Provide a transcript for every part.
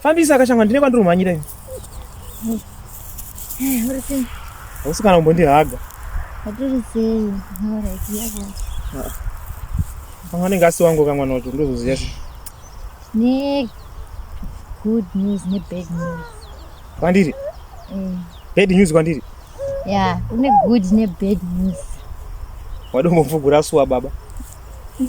Fambisa akashanga ndine kwandiri kumhanyira ini. Eh, Hausi kana kumbondihaga. Patiri sei? Alright, yako. Ah. Pamwe anenge asi wangu kamwana wacho ndozoziya sei. Ne good news ne bad news. Kwandiri? Mm. Bad news kwandiri? Yeah, kune good ne bad news. Wadombo mvugura suwa baba. Mm.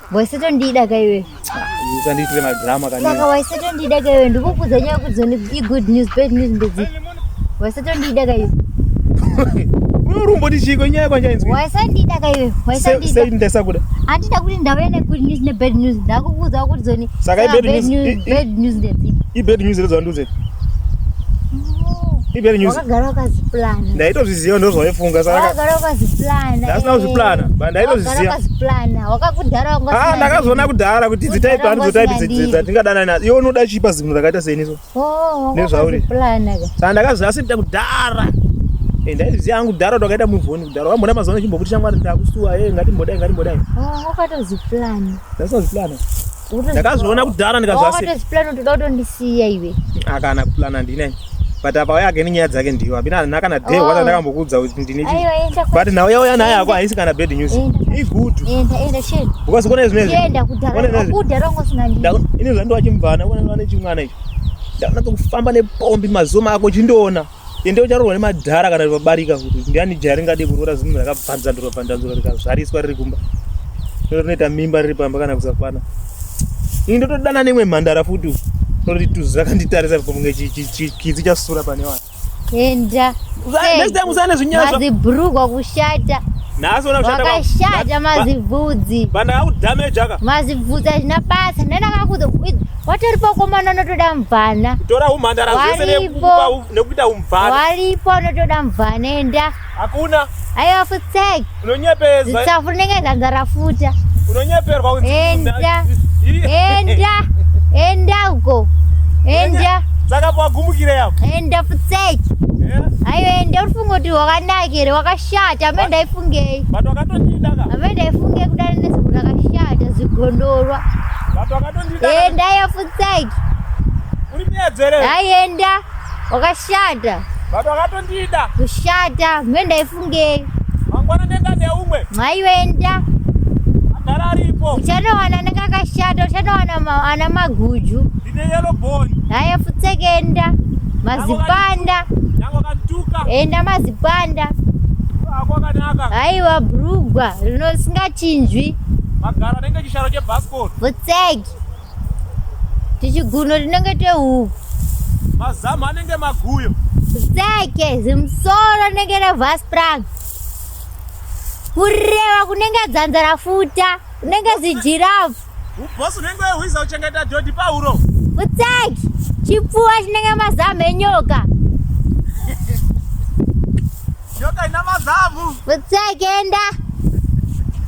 waisetondida ka iwe usandiitire madrama kanisaka waisetondida ka iwe ndikukuudza nyaya kuti zoni igood news bad news ndedzi waisetondida ka iwe unorumboti chiiko inyaya kwanjainzwi waisandida ka iwe waisandidasakuda handida kuti ndauya negood news nebad news ndakukuudzawo kuti zoni saka ibad news ibad news ndedzi ibad news ndedzi wanduze ibad news wakagara wakaziplana ndaitozviziva ndozvaifunga saka wakagara wakaziplana ndasina kuzviplana ba ndaitozviziva wakagara wakaziplana wakakudhara wanga ah ndakazoona kudhara kuti dzitaipi handizo taipi dzatingadana nadzo iwe unoda chipa zimwe rakaita seniso Oh, nezvauri saka ndakaziva asi ndida kudhara eh, ndaiziva hangu kudhara kuti wakaita muvhoni kudhara wamboda mazuva ano chimbokuti shamwari ndakusuwa e eh, ngatimbodai ngatimbodai oh, wakatozipulana ndasazipulana ndakazviona kudhara ndikazvazipulana oh, toda kutondisiya iwe akana ah, kupulana ndinai but apa wayake nenyaya dzake ndiyo apina kana day wata ndakambokuudza but now yauya naye ako haisi kana bad news igutu ukazikona izvinezviini zvandowachimubvana ane chimwana icho ndakunatsa kufamba nepombi mazoma ako chindoona ende ucharoorwa nemadhara kana vabarika kuti ndiani jaya ringade kuroora zvinhu rakabvanzandurwa bvanzandurwa rikazvariswa riri kumba rinoita mimba riri pamba kana kusakwana ini ndotodana nemwe mhandara futi noroti tuzi rakanditarisa pamunge chikidzi chasura pane vanhu Enda. Next time usane zvinyasha. Mazibhurugwa kushata. Nhasi ona kushata. Wakashata mazibvudzi. Banda aku damage aka. Mazibvudzi azvina basa. Nenda kakuza watori pakomana unotoda mvana. Tora umhandara zvese nekuita umvana. Waripo unotoda mvana enda. Hakuna. Ayo futsek. Unonyepeza. Nditsafu ndenge ganga rafuta. Unonyeperwa kuti. Enda. Enda. Enda uko. Enda. Saka kwa gumukire yako. Enda futsek. Ayo enda ufungo kuti wakanakire wakashata ambe ndaifungei. But wakatondida ka. Ambe ndaifungei kudana nezvo rakashata zigondorwa. But wakatondida. Enda ayo futsek. Uri miyedzere. Ayo enda. Wakashata. Baba wakatondida. Kushata, mwe ndaifungei. Mangwana nenda neumwe. Mwaiwenda. Agara aripo. Uchanowana nekakashata, uchanowana ma, ana maguju. Ndine yellow bone. Naye futseke enda. Mazipanda. Nyango kantuka. Enda mazipanda. Aiwa brugwa rinochinjwi. Magara nenge chisharo chebhasikoro. Futseke. tichiguno tinenge tehuku mazamu anenge maguyo zake zimusoro nenge revasprang kureva kunenge dzanza rafuta kunenge zijirafu ubosi unenge wehwiza uchengeta dhodhi pauro utsaki chipfuwa chinenge mazamu enyoka nyoka ina mazamu utsaki enda